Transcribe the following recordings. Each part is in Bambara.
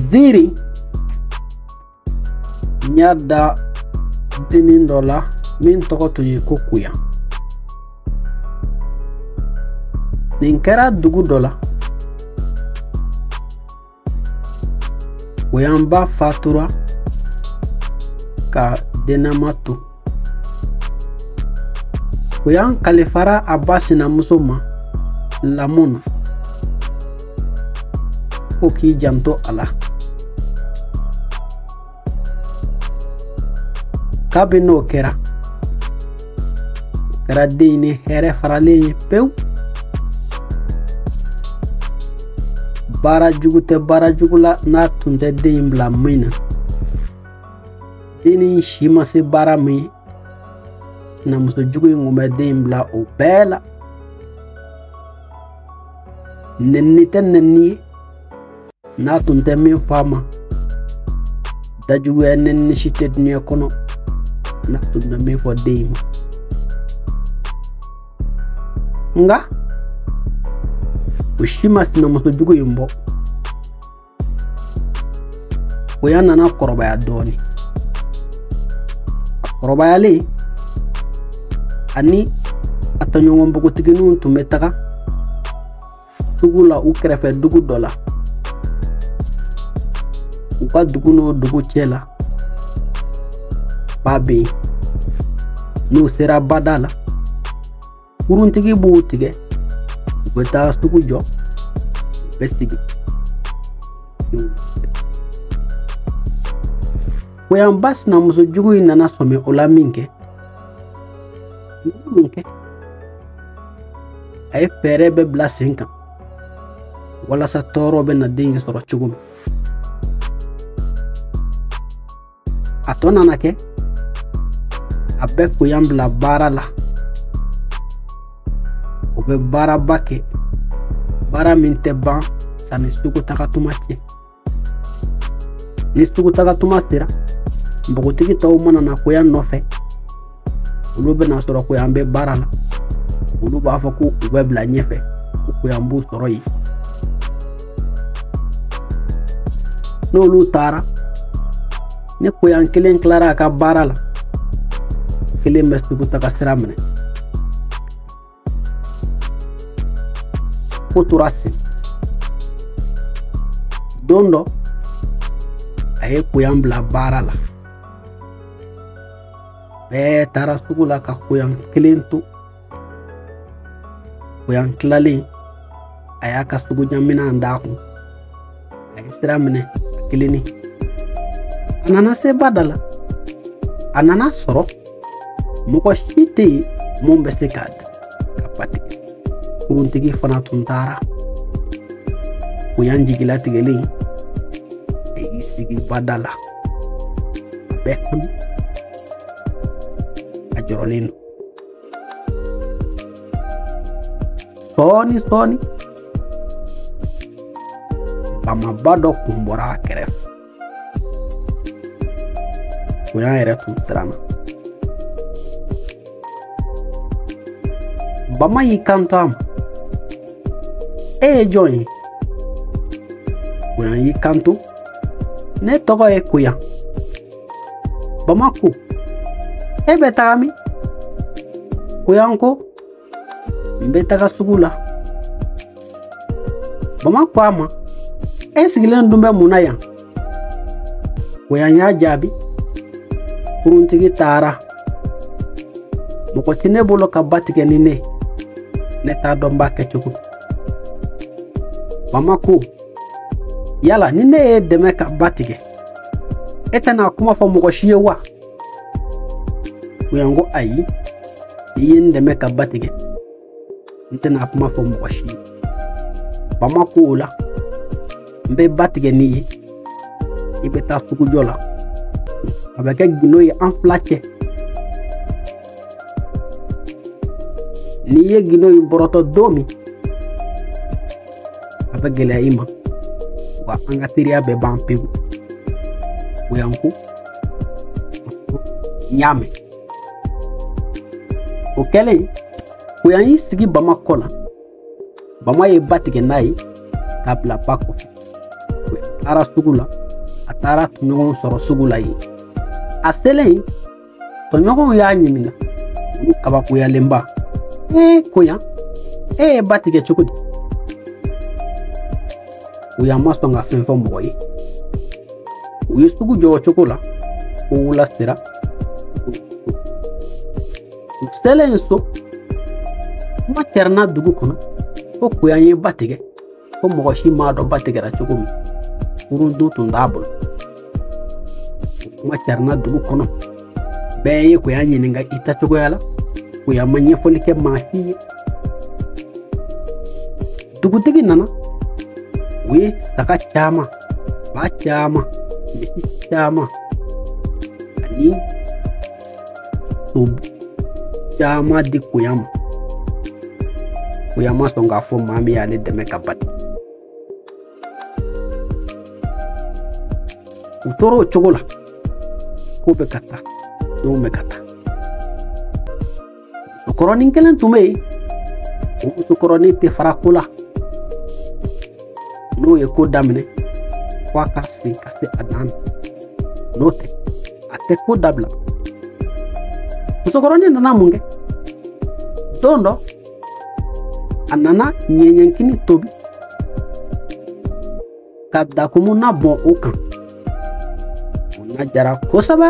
ziiri n y'a da dennin dɔ la min tɔgɔ tun ye ko koyan nin kɛra dugu dɔ la koyan ba fatura k'a dennama to koyan kalifara a ba sinamuso ma lamɔ na ko k'i janto a la kabini o kɛra kɛra den in ni hɛrɛ faralen ye pewu baara jugu tɛ baara jugu la n'a tun tɛ den in bila min na dennin si ma se baara min ye sinamuso jugu in tun bɛ den in bila o bɛɛ la nɛnini tɛ nɛnini ye n'a tun tɛ min fɔ a ma dajuguya nɛnini si tɛ duniya kɔnɔ n'a tun tɛ min fɔ den in ma nka o si ma sinamuso jugu in bɔ koyan nana kɔrɔbaya dɔɔni a kɔrɔbayalen a ni a tɔɲɔgɔn npogotigininw tun bɛ taga sugu la u kɛrɛfɛ dugu dɔ la u ka dugu n'o dugu cɛ la ba bɛ yen n'u sera bada la kuruntigi b'u tigɛ u bɛ taa sugu jɔ u bɛ segin koyan ba sinamuso jugu in nana sɔmi o la minkɛ mun kɛ a ye fɛɛrɛ bɛɛ bila sen kan walasa tɔɔrɔ bɛna den in sɔrɔ cogo min a tɔ nana kɛ a bɛ koyan bila baara la o bɛ baaraba kɛ baara min tɛ ban sanni sugu taga tuma cɛ ni sugu taga tuma sera npogotigi tɔw mana na koyan nɔfɛ olu bɛn'a sɔrɔ koyan bɛ baara la olu b'a fɔ ko u bɛ bila ɲɛfɛ ko koyan b'u sɔrɔ yen n'olu taara ni koyan kelen tilara a ka baara la a kelen bɛ sugu taga sira minɛ fo tora sen don dɔ a ye koyan bila baara la bɛɛ taara sugu la ka koyan kelen to koyan tilalen a y'a ka sugu ɲaminan d'a kun a ye sira minɛ a kelennin a nana se ba da la a nan'a sɔrɔ mɔgɔ si tɛ yen min bɛ se k'a ta ka ba tigɛ kuruntigi fana tun taara koyan jigilatigɛlen a y'i sigi ba da la a bɛ hami a jɔrɔlen don sɔɔni sɔɔni bamaba dɔ kun bɔra a kɛrɛfɛ koyan yɛrɛ tun siranna bama y'i kanto a ma e ye jɔn ye koyan y'i kanto ne tɔgɔ ye koyan bama ko e bɛ taga min koyan ko n bɛ taga sugu la bama ko a ma e sigilen dun bɛ mun na yan koyan y'a jaabi kuruntigi taara mɔgɔ tɛ ne bolo ka ba tigɛ ni ne ne t'a dɔn n b'a kɛ cogo bama ko yala ni ne y'i dɛmɛ ka ba tigɛ e tɛna kuma fɔ mɔgɔ si ye wa koyan ko ayi n'i ye n dɛmɛ ka ba tigɛ n tɛna kuma fɔ mɔgɔ si ye bama ko o la n bɛ ba tigɛ n'i ye i bɛ taa sugujɔ la a bɛ kɛ gindo ye an fila cɛ n'i ye gindo in bɔrɔtɔ don min a bɛ gɛlɛya i ma wa an ka teriya bɛɛ ban pewu koyan ko n y'a mɛn o kɛlen koyan y'i sigi bama kɔ la bama ye ba tigɛ n'a ye k'a bila ba kɔfɛ koyan taara sugu la a taar'a tɔɲɔgɔnw sɔrɔ sugu la yen a selen tɔɲɔgɔnw y'a ɲininka u kabakoyalenba ee koyan e ye ba tigɛ cogo di koyan ma sɔn ka fɛn fɔ mɔgɔ ye u ye sugu jɔ o cogo la fo wula sera u selen so kuma cɛrɛnna dugu kɔnɔ ko koyan ye ba tigɛ ko mɔgɔ si m'a dɔn ba tigɛra cogo min kurun dun tun t'a bolo kuma carina dugu kɔnɔ bɛɛ ye koya ɲininka i taa cogoya la koya ma ɲɛfɔli kɛ maa si ye dugutigi nana o ye saga caman ba caman misi caman ani so caman di koya ma koya ma sɔn k'a fɔ maa min y'ale dɛmɛ ka ba tigɛ u tora o cogo la ko bɛ ka taa denw bɛ ka taa musokɔrɔnin kelen tun bɛ yen o musokɔrɔnin tɛ fara ko la n'o ye ko daminɛ fo a ka se ka se a dan na n'o tɛ a tɛ ko dabila musokɔrɔnin nana mun kɛ don dɔ a nana ɲɛɲɛkini tobi ka dakumu na bɔn o kan o na diyara kosɛbɛ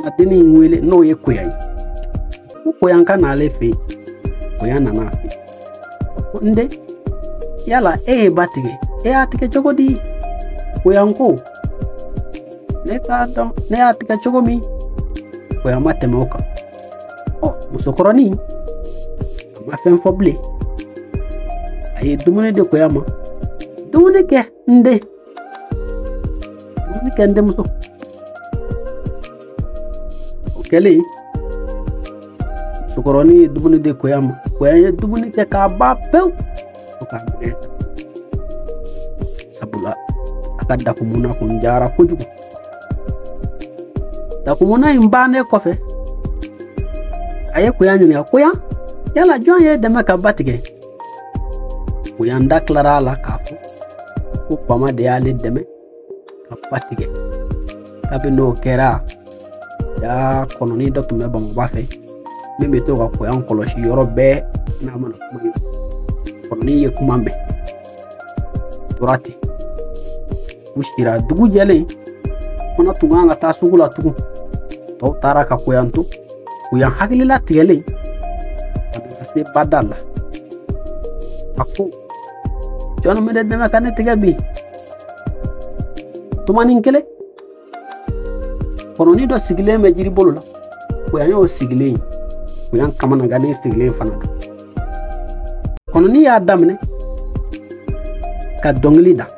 a denni in wele n'o ye koya ye ko koyan ka n'ale fɛ yen koya nana a fɛ ko n den yala e ye ba tigɛ e y'a tigɛ cogo di koyan ko ne t'a dɔn ne y'a tigɛ cogo min koya ma tɛmɛ o kan ɔ musokɔrɔnin a ma fɛn fɔ bilen a ye dumuni di koya ma dumuni kɛ n den dumuni kɛ n denmuso o kɛlen musokɔrɔnin ye dumuni di koya ma koya ye dumuni kɛ k'a ba pewu fo k'a minɛ sabula a ka dakumu na tun diyara kojugu dakumu na in bannen kɔfɛ a ye koya ɲininka koya yala jɔn y'e dɛmɛ ka ba tigɛ koyan da tilara a la k'a fɔ ko bama de y'ale dɛmɛ ka ba tigɛ kabini o kɛra jaa kɔnɔni dɔ tun bɛ bamakɔba fɛ min bɛ to ka koyan kɔlɔsi yɔrɔ bɛɛ n'a mana kuma kɔnɔni ye kuma mɛn tora ten u sira dugu jɛlen fana u tun ka kan ka taa sugu la tugun tɔw taara ka koyan to koyan hakililatigɛlen ka na se bada la a ko jɔni bɛ ne dɛmɛ ka ne tigɛ bi tumanin kelen kɔnɔni dɔ sigilen bɛ jiri bolo la koyan y'o sigilen ye koyan kamanangannen sigilen fana don kɔnɔni y'a daminɛ ka dɔnkili da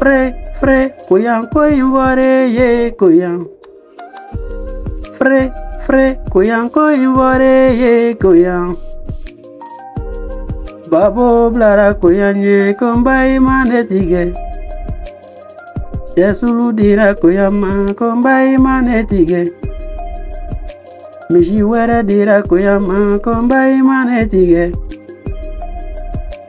Fre, fre, koyan ko in fɔre ye koyan. Fre, fre, koyan ko in fɔre ye koyan. Babo bilara koyan ye ko n ba i ma ne tigɛ. Sɛ sulu dira koyan ma ko n ba i ma ne tigɛ. Misi wɛrɛ dira koyan ma ko n ba i ma ne tigɛ.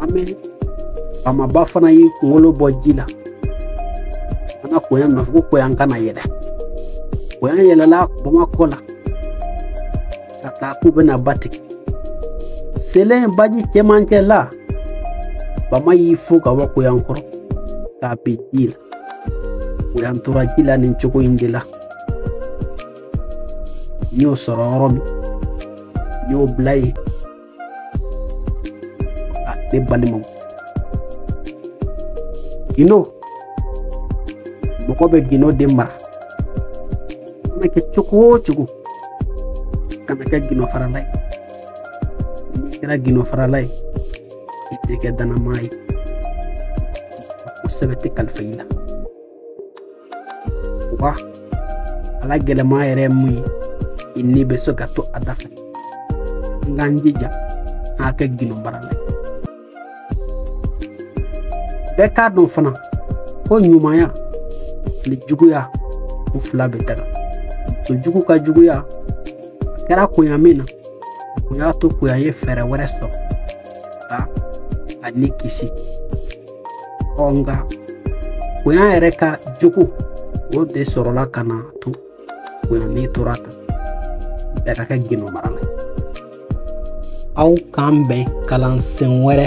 an bɛ bamaba fana y'i kunkolo bɔ ji la an ka koyan nɔfɛ ko koyan ka na yɛlɛ koyan yɛlɛla bama kɔ la ka taa k'u bɛna ba tigɛ selen baji cɛmancɛ la bama y'i fo ka bɔ koyan kɔrɔ k'a bin ji la koyan tora ji la nin cogo in de la n y'o sɔrɔ yɔrɔ min n y'o bila yen Ah, ne balimaw gindo mɔgɔ bɛ gindo de mara mana kɛ cogo o cogo kana kɛ gindo farala ye n'i kɛra gindo farala ye i tɛ kɛ dannama ye ko sɛbɛ tɛ kalifa i la wa a la gɛlɛman yɛrɛ ye mun ye i ni bɛ se ka to a da fɛ an k'an jija an ka kɛ gindo marala ye bɛɛ k'a dɔn fana ko ɲumanya ani juguya u fila bɛ daga muso jugu ka juguya a kɛra koya min na o y'a to koyan ye fɛɛrɛ wɛrɛ sɔrɔ ka a ni kisi ɔ nka koyan yɛrɛ ka jogo o de sɔrɔla ka na to koyan ni tora tan bɛɛ ka kɛ gindo marala aw k'an bɛn kalansen wɛrɛ